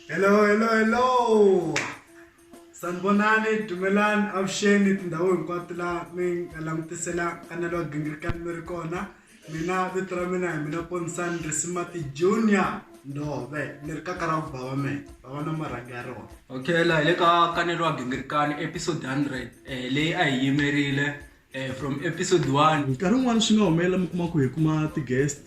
hello hello hello sanibonani dumelani avuxeni tindhawu hinkwato laha mi nga langutisela kanelo wa gingirikani mi ri kona mina vito ra mina hi mina ponisani risimati junior ndove ni ri kaka ra vubava me vava na marhangi ya rona okay la hi le ka kanelo wa gingirikani episode 100 um eh, leyi a hi yimerile Eh, from episode one nkarhi wun'wana swi nga humelela mi kuma ku hi kuma ti-guest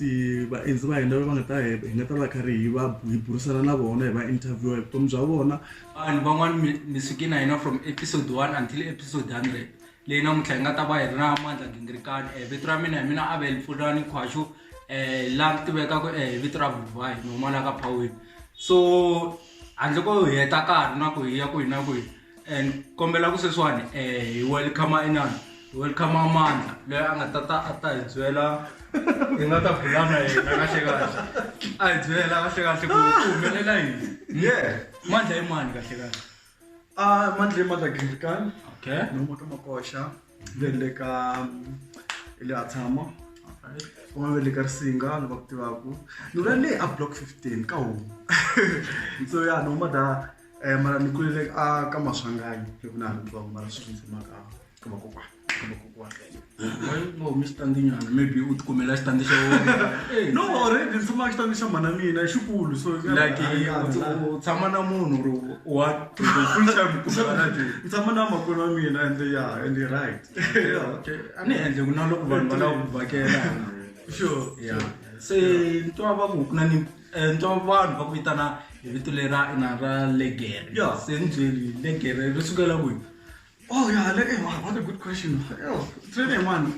vaendzi va hina va nga ta hi hi nga ta va karhi hi va hi burisana na vona hi va interviewa hi vutomi bya vona vanhu van'wana mi mi suke na hina from episode one until episode hundred leyi namuntlha hi nga ta va hi ri na mandla gingirikani um vito ra mina hi mina avel pfulani khwaxo um laha mi tivekaka um vito ra vuvahi nomalaka phawini so handle ko hi heta karhi na ku hi ya ku hi na ku hi and kombela ku sweswiwani um hi welcome inani hi welcome amandla loyi a nga ta ta a ta hi byela hi nga ta bulana yena kahle kahle a hi byela kahle kahle ku ku humelela yini ye mandla i mani kahle kahle a mandla i mandla gilkan okay ni huma ka makoxa le le ka hi le a tshama kuma ve le ka risinga ni va ku tivaku ni vula le a block fifteen ka huma so ya ni huma da Eh mara ni kulele a ka maswanganyi hi ku na ha twa mara swi ndzi maka ka vakokwana ka vakokwana. Bo Mr. Ndinyana maybe u tikumela xitandi xa wena. Eh, No already ndzi maka xitandi xa mhana mina i xikulu so Like u- u tshama na munhu or wa full time ku fana na ti. Ndzi tshama na makwerhu wa mina and ya and i right. Okay. A ni endle ku na loko vanhu va lava ku vhakela. Sure. Yeah. Se ni twa va ku ku na ni Eh, nto vanhu va ku vitana hi vito lera ina ra legere yo se ni byeli legere ri sukela kwihi oh ya legere wow, what a good question yo trene mani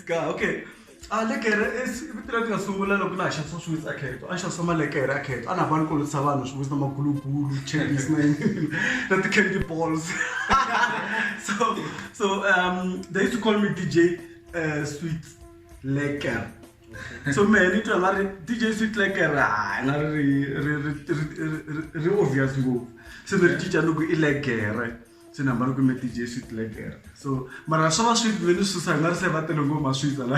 ska okay a ah, legere i vito leri nga sungula loko laha xavisa swiwitsi a kheto a xavisa malekere a kheto a na va ni kolotisa vanhu swiwitsi na magulugulu chapis na na ti-candy balls so so um they used to call me dj uh, eh, sweet leker so mehe ni twa nga ri dj switlekerha i nga ri ri obvious ngopfu se ni ri cinca ni ku i legere se ni hamba ni kume dj switlekerha so mara swa va swi ve ni susa hi nga ri se va tele ngopfu maswitsa la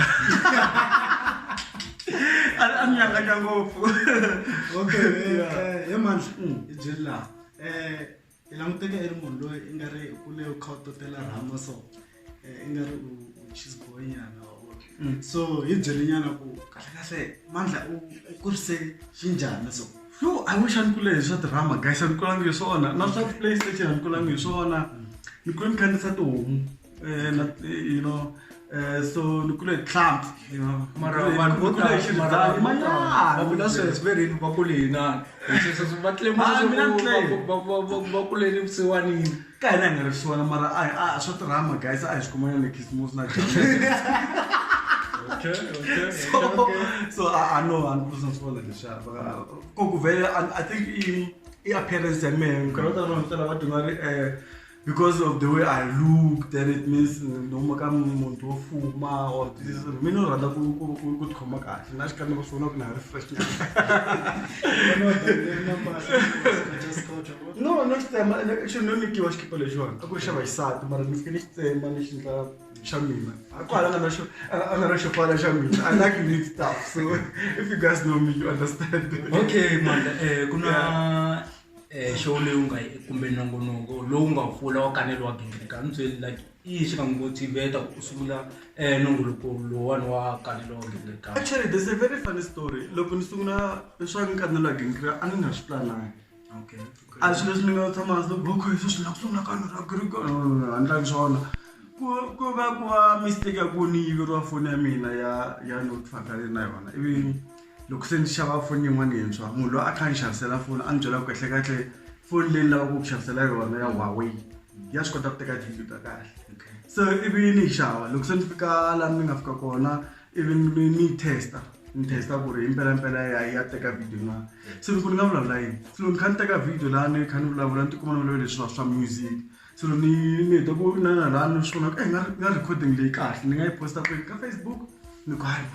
a ni nyanganya ngopfu okay eh, eh, he mandla mm. i byeli laha um eh, i languteka i ri munhu loyi i nga ri u le u kha u totela rhama so eh, i nga ri u chisboy nyana wa vona Mm. so hi byele nyana ku kahlekahle mandla u u kurise xinjhani so yo i wish a ni kule hi swa drama guys a ni kulangi hi swona na swa playstation a ni kulangi hi swona ni kule ni khandzisa tihomu Eh, not, eh, you know eh, so ni kule hi tlhampfu you know mara vanhu vo tala mara vanhu vo tala va vula sweswi swi ve rini va kule hi nani sweswo swi va tlema Ah, mina ni tlele. leswaku va- va- va- va kulele vusiwanini ka hina hi nga ri swona mara a a swa tirhama guys a hi swi kumana le khisimusi na Okay, okay, so okay. so a a no a ni kusa swona leswaku ko ku vele I- i think i i appearance ya mehe nkarhi wo tala vanhu vo tala va duma ri eh because of the way i look then it means noma ka muntu wo fuma or this mina u rhandza ku tikhoma kahle na xikan'we va swi vona ku na ri fresh no no xi tsema actually no nyikiwa xikipa lexiwani a ku ri xa vaxisati mara ni fike ni xi tsema ni xi ndla xa mina kwala nga na xo a nga na xo pfala xa mina i like unique stuff so if you guys know me you understand okay manda um ku na eh, show leyi u nga yi kumbe nongonoko lowu nga pfula wa kanele wa gingirika ni byeli like i yi xi nga n'wi motiveta ku sungula um nongoloko lowani wa kanele wa gingirika actually there's a very funny story loko ni sungula swa nkanelo wa gingirika a ni nga swi planangi okay a swilo leswi ni nga tshama hansi loko okay swi swi lava ku sungula kanele wa gingirika a ni lavi swona ku ku va ku va mistake ya ku ni yiveriwa foni ya mina ya ya notify na yona ivi Loko se ndzi xava foni yin'wana yintshwa munhu loyi a kha a ni xavisela foni a ni byela ku kahlekahle foni leyi ni lavaka ku ku xavisela yona ya Huawei ya swi kota ku teka tivhidiyo ta kahle so ivi ni yi xava loko se ni fika laha ni nga fika kona ivi ni ni yi test-a ni test-a ku ri himpelampela ya ya teka vhidiyo na se loko ni nga vulavula yini se loko ni kha ni teka vhidiyo laha ni kha ni vulavula ni tikuma ni vulavula leswiwa swa music so ni ni heta ku na na la ni swi vona ku i nga nga recording leyi kahle ni nga yi posta kwini ka facebook ni ku hayi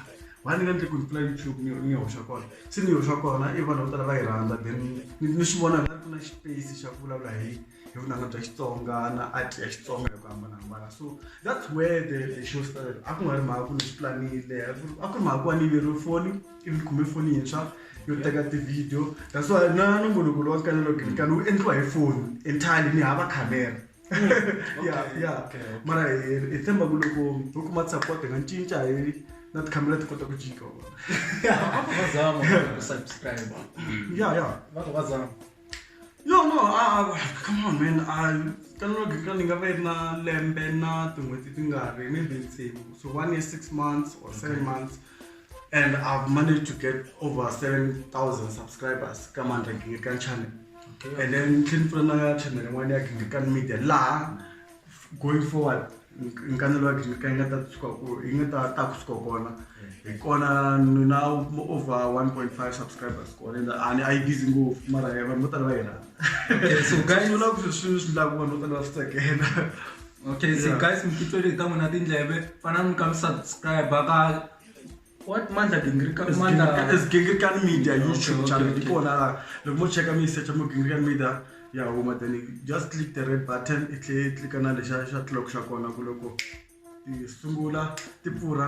why ni nga endli ku ni pfula youtube ni ni yi hoxa kona se ni yi hoxa kona i vanhu vo tala va yi rhandza then ni ni swi vona ku na space xa ku vulavula hi hi vunanga bya xitsonga na art ya xitsonga hi ku hambanahambana so that's where the the show started a ku nga ri mhaka ku ni swi planile a ku ri mhaka ku va ni yiveriwe foni ivi kume foni yintshwa yo teka ti-video that's why na nongonoko lowa kanelo gilikani wu endliwa hi foni entirely ni hava camera hmm, ya ya mara hi tshemba ku loko ho kuma support hi nga cinca hi na tikhamera ti kota ku jika ya ya yo no come on man kanelo gilikani nga va yi ri na lembe na tin'hweti ti nga ri maybe tsevu so one year six months or seven months and I've managed to get over 7,000 subscribers ka Mandla Gingirikani channel okay. and then tlheni pfula na ya channel yin'wana ya Gingirikani media laha going forward nkanelo wa Gingirikani yi nga ta suka ku yi nga ta ta kusuka kona hi kona ni na over 1.5 subscribers kona and a ni a yi busy ngopfu mara vanhu vo tala va yi rhandza so guys swi vula ku swi swi endlaku vanhu vo tala va swi tsakela okay so yeah. guys mikitweleta n'wina tindleve fana mi ka mi subscribe ka what mandla gingirikani media youtube channel di kona la loko mo cheka mi yi secha mo gingirikani media ya huma then just click the red button i tlhe i tlika na lexa xa clock xa kona ku loko ti sungula ti pfurha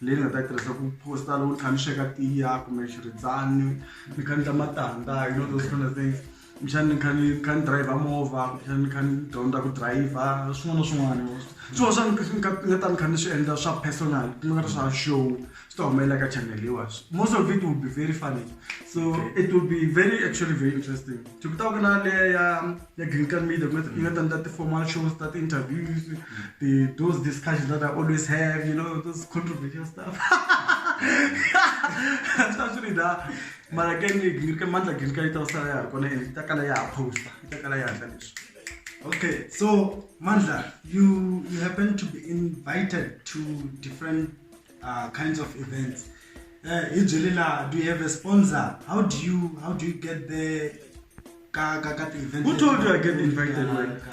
leyi ni nga ta yi tirhisa ku posta loko ni kha ni sweka tiya kumbe xiridzani ni kha ni ta matandza you know those kind of things kumbexani ni kha ni kha ni driver movha kumbexani ni kha ni dyondza ku driver swin'wana na swin'wana swin'wana swa ni nga ni nga ta ni kha ni swi endla swa personal ku nga ri swa show swi ta humelela ka channel leyiwa most of it will be very funny so it will be very actually very interesting to ku ta ku na leya ya green card media ku nga yi nga ta endla ti-formal shows ta ti-interviews ti those discussions that I always have you know those controversial stuff swi ta swi ri da mara ke ni green card mandla green card yi ta sala ya ha ri kona and yi ta kala ya ha posta yi ta kala ya endla leswi Okay, so Mandla, you you happen to be invited to different uh, kinds of events uh, hi byeli laha do you have a sponsor how do you how do you get there ka ka ka ti-event who told you i get invited like